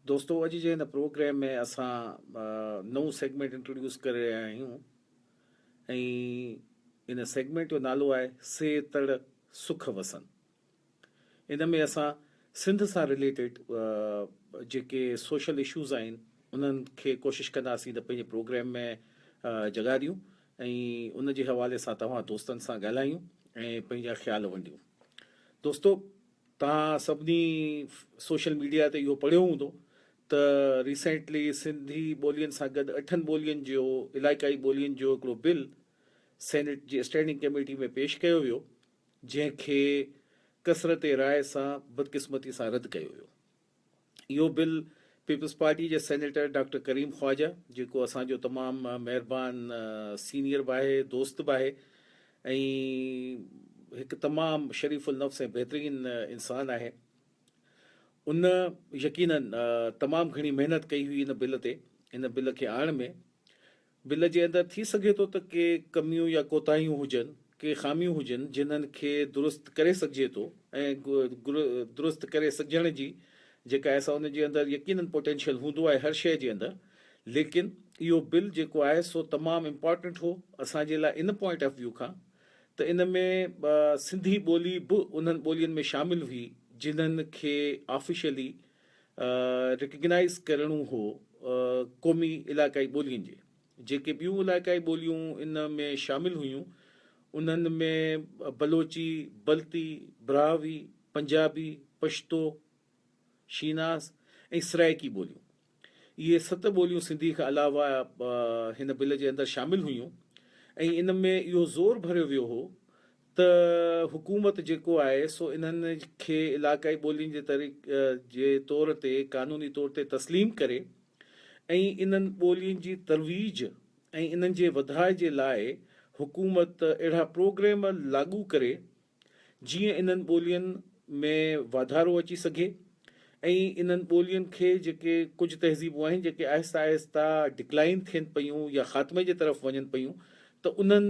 دوستو اڄ جي هن پروگرام ۾ اسان نئون سيگمنٽ انٽروڊيوس ڪري رهيا آهيون ۽ ان سيگمنٽ جو نالو آهي سي تڙ سک وسن ان ۾ اسان سنڌ سان ريليٽيڊ جيڪي سوشل اشوز آهن انهن کي ڪوشش ڪنداسين ته پنهنجي پروگرام ۾ جڳا ڏيون ۽ ان جي حوالي سان توهان دوستن سان ڳالهايون ۽ پنهنجا خيال ونڊيون دوستو توهان سڀني سوشل ميڊيا تي اهو پڙهيو هوندو ته ريسينٽلي سنڌي ٻولين سان گڏ اٺن ٻولين جو علائقائي ٻولين جو هڪڙو بل سينيٽ جي اسٽينڊنگ ڪميٽي ۾ پيش ڪيو ويو جنهن کي ڪثرت راء سان بدقسمتي سان رد ڪيو ويو. اهو بل پيپلز پارٽي جي سينيٽر ڊاڪٽر ڪريم خواجه جيڪو اسان جو تمام مهربان سينيئر به آهي دوست به آهي ۽ هڪ تمام شريف النفس ۽ بهترين انسان آهي ان يقينن تمام گھڻي محنت ڪئي هئي ان بل تي ان بل کي آڻڻ ۾ بل جي اندر ٿي سگهي ٿو ته ڪي ڪميون يا ڪوتاهيون هجن، ڪي خاميون هجن جنھن کي درست ڪري سگهجي ٿو ۽ درست ڪري سگهجڻ جي جيڪا احساس ان جي اندر يقينن پوٽينشل هوندو آهي هر شيء جي اندر ليڪن اهو بل جيڪو آهي سو تمام امپارٽنٽ هو اسان جي لاء ان پوائنٽ آف ويو کان ته ان ۾ سنڌي ٻولي به انھن ٻولين ۾ شامل هئي جنھن کي آفيشلي ريڪگنائيز ڪرڻو هو قومي علائقائي ٻولين جي جيڪي ٻيون علائقائي ٻوليون ان ۾ شامل هيون انهن ۾ بلوچي بلتي براهوي پنجابي پشتو شيناس ۽ سرائيڪي ٻوليون اهي ست ٻوليون سنڌي کان علاوه هن بل جي اندر شامل هيون ۽ ان ۾ اهو زور ڀريو ويو هو ته حڪومت جيڪو آهي سو انهن کي علاقائي ٻولين جي طريق جي طور تي قانوني طور تي تسليم ڪري ۽ انهن ٻولين جي ترويج ۽ انهن جي وڌاء جي لاء حڪومت اهڙا پروگريم لاڳو ڪري جيئن انهن ٻولين ۾ واڌارو اچي سگهي. ۽ انهن ٻولين کي جيڪي ڪجهه تهذيبون آهن جيڪي آهسته آهسته ڊڪلائين ٿين پيون يا خاتمي جي طرف وڃن پيون ته انهن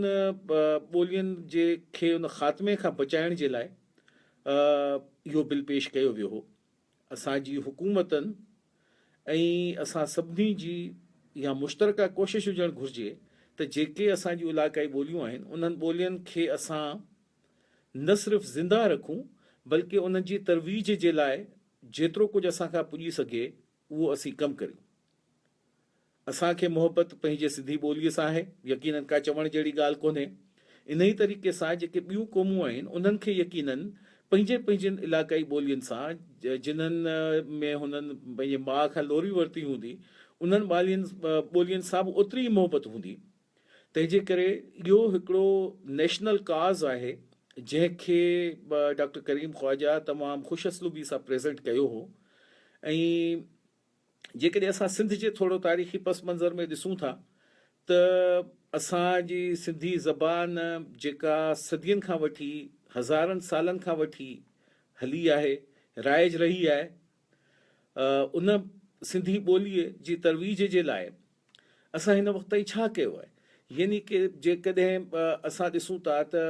ٻولين جي کي ان خاتمي کان بچائڻ جي لاء اهو بل پيش ڪيو ويو هو اسان جي حڪومتن ۽ اسان سڀني جي اها مشترڪه ڪوشش هجڻ گهرجي ته جيڪي اسان جي علاقائي ٻوليون آهن انهن ٻولين کي اسان نه صرف زنده رکون بلڪه انهن جي ترويج جي لاء جيترو ڪجهه اسان کان پڄي سگهي اهو اسين ڪم ڪريون. اسان کي محبت پنهنجي سنڌي ٻوليء سان آهي، يقينن ڪا چوڻ جهڙي ڳالهه ڪونهي. انهيء طريقي سان جيڪي ٻيون قومون آهن انهن کي يقينن پنهنجين پنهنجين علائقائي ٻولين سان جنهن ۾ هنن پنهنجي ماء کان لوري ورتي هوندي انهن ٻولين سان به اوتري ئي محبت هوندي. تنهنجي ڪري اهو هڪڙو نيشنل ڪاز آهي جنهن کي ڊاڪٽر ڪريم خواجه تمام خوش اسلوبي سان پريزنٽ ڪيو هو ۽ جيڪڏهن اسان سنڌ جي ٿورو تاريخي پس منظر ۾ ڏسون ٿا ته اسان جي سنڌي زبان جيڪا صدين کان وٺي هزارن سالن کان وٺي هلي آهي رائج رهي آهي ان سنڌي ٻوليء جي ترويج جي لاء اسان هن وقت تائين ڇا ڪيو آهي؟ يعني ڪه جيڪڏهن اسان ڏسون ٿا ته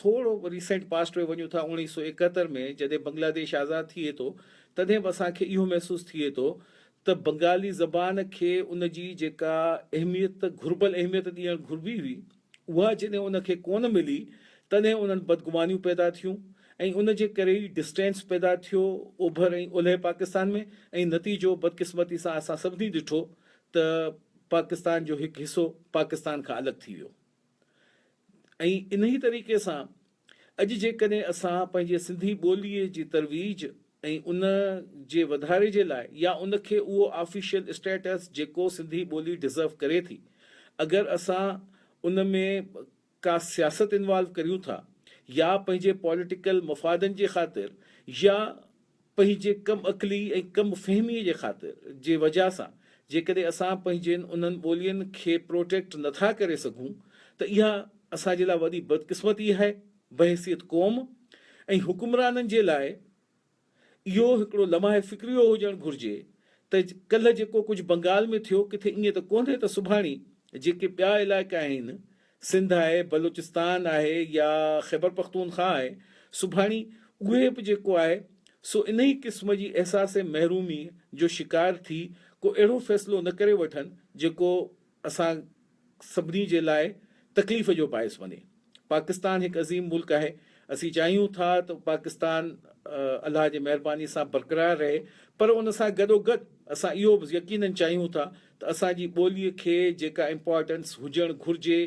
ٿورو ريسينٽ پاسٽ ۾ وڃون ٿا اوڻيهه سؤ ايڪهتر ۾ جڏهن بنگلاديش آزاد ٿئي ٿو تڏهن به اسان کي اهو محسوس ٿئي ٿو ته بنگالي زبان کي ان جي جيڪا اهميت گهربل اهميت ڏيڻ گهربي هئي اها جڏهن ان کي ڪونه ملي تڏهن انهن بدگمانيون پيدا ٿيون ۽ ان جي ڪري ئي ڊسٽينس پيدا ٿيو اوڀر ۽ اولهه پاڪستان ۾ ۽ نتيجو بدقسمتي سان اسان سڀني ڏٺو ته پاڪستان جو هڪ حصو پاڪستان کان الڳ ٿي ويو ۽ انهي طريقي سان اڄ جيڪڏهن اسان پنهنجي سنڌي ٻوليء جي ترويج ۽ ان جي وڌاري جي لاء يا ان کي اهو آفيشل اسٽيٽس جيڪو سنڌي ٻولي ڊزرو ڪري ٿي اگر اسان ان ۾ ڪا سياست انوالو ڪريون ٿا يا پنهنجي پوليٽيڪل مفادن جي خاطر يا پنهنجي ڪم عقلي ۽ ڪم فهمي جي خاطر جي وجهه سان جيڪڏهن اسان پنهنجين انهن ٻولين کي پروٽيڪٽ نه ٿا ڪري سگهون ته اها اسان جي لاء وڏي بدقسمتي آهي بحيثيت قوم ۽ حڪمرانن جي لاء اهو هڪڙو لمحه فڪريو هجڻ گهرجي ته ڪلهه جيڪو ڪجهه بنگال ۾ ٿيو ڪٿي ائين ته ڪونهي ته سڀاڻي جيڪي ٻيا علائقا آهن سنڌ آهي، بلوچستان آهي يا خيبرپختونخواه آهي، سڀاڻي اهي به جيڪو آهي سو انهي قسم جي احساس محرومي جو شڪار ٿي ڪو اهڙو فيصلو نه ڪري وٺن جيڪو اسان سڀني جي لاء تڪليف جو باعث بني. پاڪستان هڪ عظيم ملڪ آهي، اسين چاهيون ٿا ته پاڪستان الله جي مهرباني سان برقرار رهي پر ان سان گڏوگڏ اسان اهو به يقينن چاهيون ٿا ته اسان جي ٻوليء کي جيڪا امپارٽنس هجڻ گهرجي،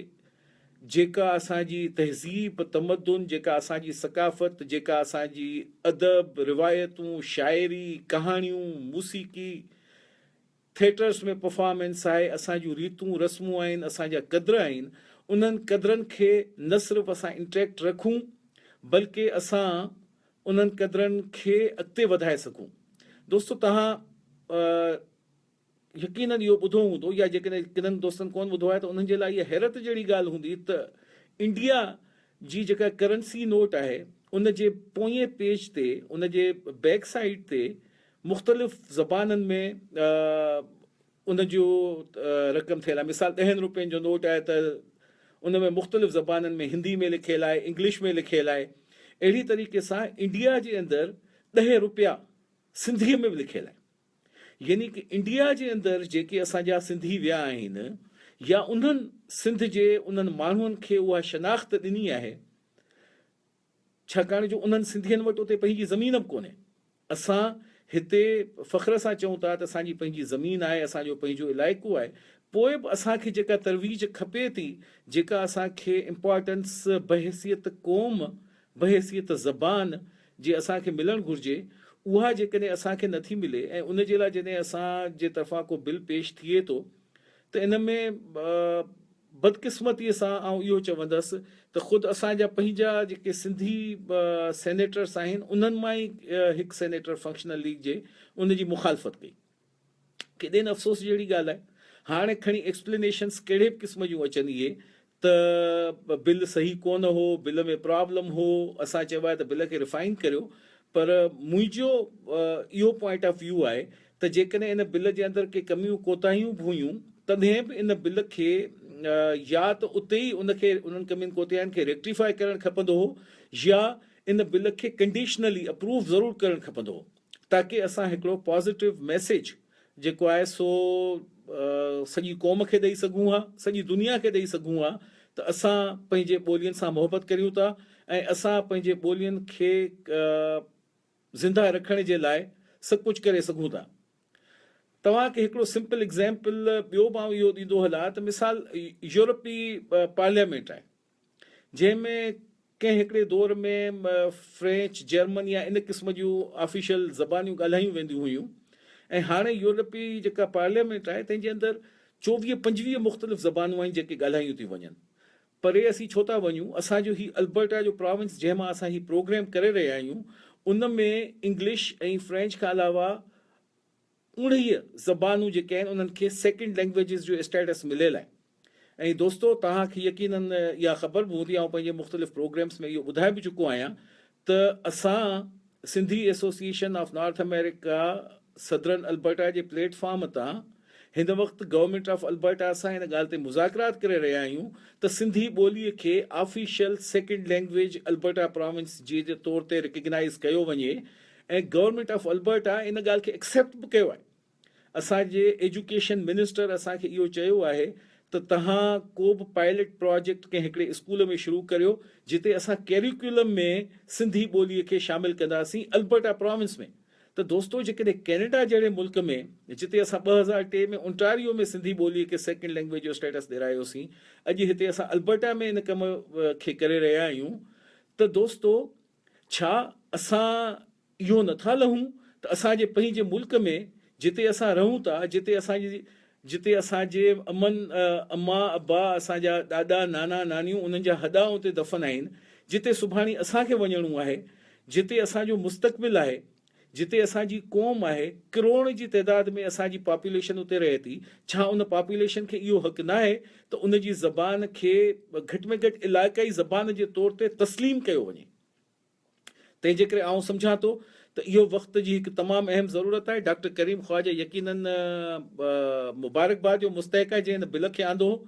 جيڪا اسان جي تهذيب، تمدن، جيڪا اسان جي ثقافت، جيڪا اسان جي ادب، روايتون، شاعري، ڪهاڻيون، موسيقي، ٿيٽرس ۾ پرفارمنس آهي، اسان جون ريتون رسمون آهن، اسان جا قدر آهن، انهن قدرن کي نه صرف اسان انٽيڪٽ رکون، بلڪه اسان انهن قدرن کي اڳتي وڌائي سگهون. دوستو توهان يقينن اهو ٻڌو هوندو يا جيڪڏهن ڪنن دوستن ڪونه ٻڌو آهي ته انهن جي لاء اها حيرت جهڙي ڳالهه هوندي ته انڊيا جي جيڪا ڪرنسي نوٽ آهي ان جي پوئين پيج تي ان جي بيڪ سائيڊ تي مختلف زبانن ۾ ان جو رقم ٿيل آهي مثال ڏهن روپين جو نوٽ آهي ته ان ۾ مختلف زبانن ۾ هندي ۾ لکيل آهي انگلش ۾ لکيل آهي اهڙي طريقي سان انڊيا جي اندر ڏهه روپيا سنڌي ۾ به لکيل آهن. يعني ڪه انڊيا جي اندر جيڪي اسان جا سنڌي ويا آهن يا انهن سنڌ جي انهن ماڻهن کي اها شناخت ڏني آهي ڇاڪاڻ جو انهن سنڌين وٽ اتي پنهنجي زمين به ڪونهي اسان هتي فخر سان چئون ٿا ته اسان جي پنهنجي زمين آهي اسان جو پنهنجو علائقو آهي پوء به اسان کي جيڪا ترويج کپي ٿي جيڪا اسان کي امپارٽنس بحيثيت قوم بحيثيت زبان جي اسان کي ملڻ گهرجي، اها جيڪڏهن اسان کي نٿي ملي ۽ ان جي لاء جڏهن اسان جي طرفان ڪو بل پيش ٿئي ٿو ته ان ۾ بدقسمتيء سان آئون اهو چوندس ته خود اسان جا پنهنجا جيڪي سنڌي سينيٽرس آهن، انهن مان ئي هڪ سينيٽر فنڪشنل ليگ جي ان جي مخالفت ڪئي. ڪيڏين افسوس جهڙي ڳالهه آهي. هاڻي کڻي ايڪسپلينيشنس ڪهڙي به قسم جون اچن اهي ته بل صحيح ڪونه هو، بل ۾ پرابلم هو، اسان چيو آهي ته بل کي ريفائن ڪريو پر منهنجو اهو پوائنٽ آف ويو آهي ته جيڪڏهن ان بل جي اندر ڪي ڪميون ڪوتاهيون به هيون تڏهن به ان بل کي يا ته اتي ئي ان کي انهن ڪمين ڪوتاهين کي ريڪٽيفاء ڪرڻ کپندو هو يا ان بل کي ڪنڊيشنلي اپروو ضرور ڪرڻ کپندو هو. تاڪي اسان هڪڙو پازيٽو ميسيج جيڪو آهي سو سڄي قوم کي ڏئي سگهون ها، سڄي دنيا کي ڏئي سگهون ها ته اسان پنهنجي ٻولين سان محبت ڪريون ٿا ۽ اسان پنهنجي ٻولين کي زنده رکڻ جي لاء سڀ ڪجهه ڪري سگهون ٿا. توهان کي هڪڙو سمپل ايگزامپل ٻيو به آئون اهو ڏيندو هلان ته مثال يورپي پارليامينٽ آهي جنهن ۾ ڪنهن هڪڙي دور ۾ فرينچ، جرمن يا ان قسم جون آفيشل زبانيون ڳالهايون وينديون هيون ۽ هاڻي يورپي جيڪا پارليامينٽ آهي تنهن جي اندر چوويهه پنجويهه مختلف زبانون آهن جيڪي ڳالهايون ٿيون وڃن. پري اسين ڇو ٿا وڃون، اسان جو هي البرٽا جو پراونس جنهن مان اسان هي پروگرام ڪري رهيا آهيون ان ۾ انگلش ۽ فرينچ کان علاوه اڻهيء زبانون جيڪي آهن انهن کي سيڪنڊ لينگويجز جو اسٽيٽس مليل آهي ۽ دوستو توهان کي يقيناً اها خبر به هوندي آئون پنهنجي مختلف پروگريمس ۾ اهو ٻڌائي به چڪو آهيان ته اسان Sindhi association of North America southern Alberta جي پليٽ فارم تان هن وقت گورنمينٽ آف البرٽا سان ان ڳالهه تي مذاڪرات ڪري رهيا آهيون ته سنڌي ٻولي کي official second language Alberta province جي طور تي رڪگنائيز ڪيو وڃي ۽ گورنمينٽ آف البرٽا ان ڳالهه کي ايڪسيپٽ به ڪيو آهي. اسان جي ايجوڪيشن منسٽر اسان کي اهو چيو آهي ته توهان ڪو به پائلٽ پراجيڪٽ ڪنهن هڪڙي اسڪول ۾ شروع ڪريو جتي اسان ڪيريڪولم ۾ سنڌي ٻولي کي شامل ڪنداسين البرٽا پراونس ۾ ته دوستو جيڪڏهن ڪينيڊا جهڙي ملڪ ۾ جتي اسان ٻه هزار ٽي ۾ اونٽاريو ۾ سنڌي ٻولي کي سيڪنڊ لينگويج جو اسٽيٽس ڏيرايوسين اڄ هتي اسان البرٽا ۾ ان ڪم کي ڪري رهيا آهيون ته دوستو ڇا اسان اهو نه ٿا لهون ته اسان جي پنهنجي ملڪ ۾ جتي اسان رهون ٿا، جتي اسان جي جتي اسان جي امن، اما، ابا، اسان جا ڏاڏا، نانا، نانيون، انهن جا هڏا اتي دفن آهن، جتي سڀاڻي اسان کي وڃڻو آهي، جتي اسان جو مستقبل آهي، جتي اسان جي قوم آهي، ڪروڙن جي تعداد ۾ اسان جي پاپوليشن اتي رهي ٿي، ڇا ان پاپوليشن کي اهو حق ناهي ته ان جي زبان کي گهٽ ۾ گهٽ علائقائي زبان جي طور تي تسليم ڪيو وڃي؟ تنهن جي ڪري آئون سمجهان ٿو ته اهو وقت جي هڪ تمام اهم ضرورت آهي. ڊاڪٽر ڪريم خواجه يقيناً مبارڪباد جو مستحق آهي جنهن هن بل کي آندو هو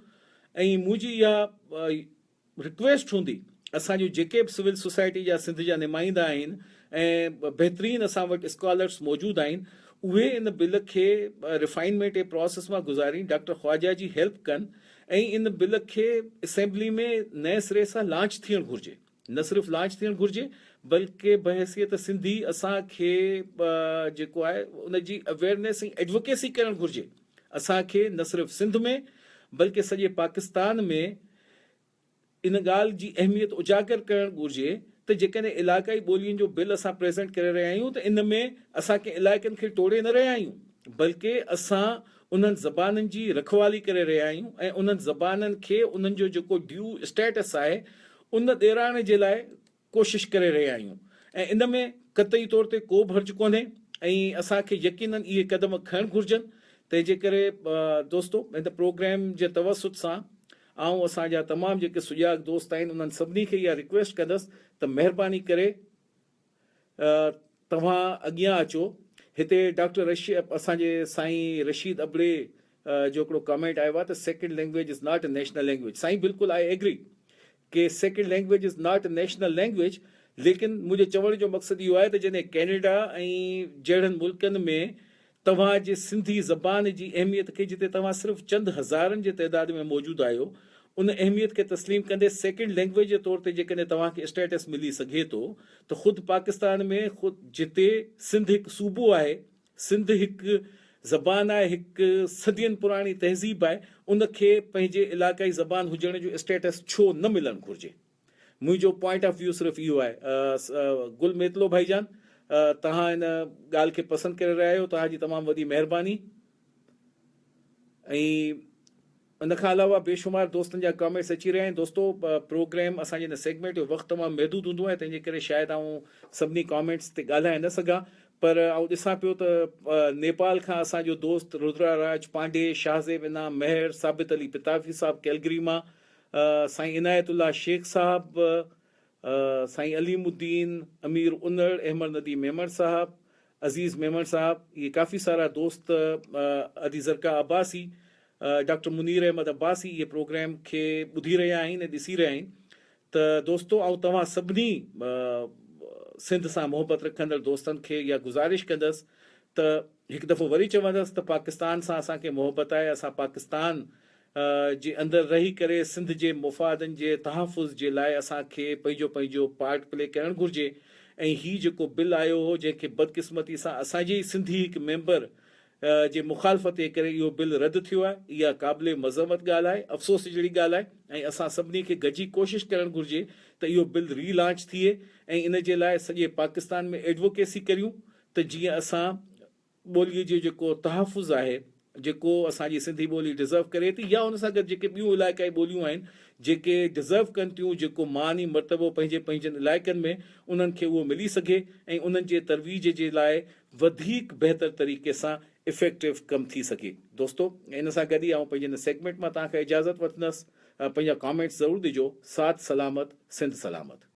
۽ منهنجي اها رڪويسٽ هوندي اسان جون جيڪي به سول سوسائٽي جا سنڌ جا نمائندا آهن ۽ بهترين اسان وٽ اسڪالرس موجود آهن اهي ان بل کي ريفائنمينٽ ۽ پراسيس مان گذارين ڊاڪٽر خواجه جي هيلپ ڪن ۽ ان بل کي اسيمبلي ۾ نئين سري سان لانچ ٿيڻ گهرجي نه صرف لانچ ٿيڻ گهرجي بلڪه بحيثيت سنڌي اسان کي جيڪو آهي ان جي اويرنيس ۽ ايڊوڪيسي ڪرڻ گهرجي اسان کي نه صرف سنڌ ۾ بلڪه سڄي پاڪستان ۾ ان ڳالهه جي اهميت اجاگر ڪرڻ گهرجي ته جيڪڏهن علائقائي ٻولين جو بل اسان پريزنٽ ڪري رهيا آهيون ته ان ۾ اسان ڪنهن علائقن کي ٽوڙي نه رهيا آهيون بلڪه اسان انهن زبانن جي رکوالي ڪري رهيا آهيون ۽ انهن زبانن کي انهن جو جيڪو ڊيو اسٽيٽس آهي ان ڏيرائڻ جي لاء ڪوشش ڪري رهيا آهيون ۽ ان ۾ قطعي طور تي ڪو به حرج ڪونهي ۽ اسان کي يقينن اهي قدم کڻڻ گهرجن تنهن جي ڪري دوستو هن پروگرام جي توسط سان آئون اسان جا تمام جيڪي سجاڳ دوست آهن انهن سڀني کي اها رڪويسٽ ڪندس ته مهرباني ڪري توهان اڳيان اچو هتي ڊاڪٽر رشي اسان جي سائين رشيد ابڙي جو هڪڙو ڪامينٽ آيو آهي ته second language is not a national language سائين بلڪل آء ايگري ڪي sacred language is not a national language ليڪن منهنجو چوڻ جو مقصد اهو آهي ته جڏهن ڪينيڊا ۽ جهڙن ملڪن ۾ توهان جي سنڌي زبان جي اهميت کي جتي توهان صرف چند هزارن جي تعداد ۾ موجود آهيو ان اهميت کي تسليم ڪندي سيڪريڊ لينگويج جي طور تي جيڪڏهن توهان کي اسٽيٽس ملي سگهي ٿو ته خود پاڪستان ۾ خود جتي سنڌ هڪ صوبو آهي سنڌ هڪ زبان آهي، هڪ صدين پراڻي تهذيب آهي، ان کي پنهنجي علائقائي زبان هجڻ جو اسٽيٽس ڇو نه ملڻ گهرجي؟ منهنجو پوائنٽ آف ويو صرف اهو آهي. گل ميتلو ڀائي جان توهان ان ڳالهه کي پسند ڪري رهيا آهيو توهان جي تمام وڏي مهرباني ۽ ان کان علاوه بي شمار دوستن جا ڪامينٽس اچي رهيا آهن دوستو پروگرام اسان جي هن سيگمينٽ جو وقت تمام محدود هوندو آهي تنهن جي ڪري شايد آئون سڀني ڪامينٽس تي ڳالهائي نه سگهان پر آئون ڏسان پيو ته نيپال کان اسان جو دوست رودرا راج پانڊي شاهه زيب انعام مهر ثابت علي پتافي صاحب ڪيلگري مان سائين عنايت الله شيخ صاحب سائين عليم الدين، امير انڙ، احمد نديم ميمڻ صاحب، عزيز ميمڻ صاحب، اهي ڪافي سارا دوست، ادي زرقا عباسي، ڊاڪٽر منير احمد عباسي اهي پروگرام کي ٻڌي رهيا آهن ۽ ڏسي رهيا آهن ته دوستو آئون توهان سڀني سنڌ سان محبت رکندڙ دوستن کي اها گذارش ڪندس ته هڪ دفعو وري چوندس ته پاڪستان سان اسان کي محبت آهي اسان پاڪستان جي اندر رهي ڪري سنڌ جي مفادن جي تحفظ جي لاء اسان کي پنهنجو پنهنجو پارٽ پلي ڪرڻ گهرجي ۽ هي جيڪو بل آيو هو جنهن کي بدقسمتي سان اسان جي ئي سنڌي هڪ ميمبر جي مخالفت جي ڪري اهو بل رد ٿيو آهي اها قابل مذمت ڳالهه آهي افسوس جهڙي ڳالهه آهي ۽ اسان سڀني کي گڏجي ڪوشش ڪرڻ گهرجي ته اهو بل ري لانچ ٿئي ۽ ان جي لاء سڄي پاڪستان ۾ ايڊووڪيسي ڪريون ته جيئن اسان ٻوليء جو جيڪو تحفظ آهي، جيڪو اسان جي سنڌي ٻولي ڊزرو ڪري ٿي يا ان سان گڏ جيڪي ٻيون علائقائي ٻوليون آهن، جيڪي ڊزرو ڪن ٿيون، جيڪو مان ۽ مرتبو پنهنجي پنهنجن علائقن ۾ انهن کي اهو ملي سگهي ۽ انهن جي ترويج جي لاء وڌيڪ بهتر طريقي سان افيڪٽو ڪم ٿي سگهي. دوستو! ان سان گڏ ئي آئون پنهنجي هن سيگمينٽ مان توهان کان اجازت وٺندس. پنهنجا ڪامينٽس ضرور ڏجو. ساٿ سلامت، سنڌ سلامت.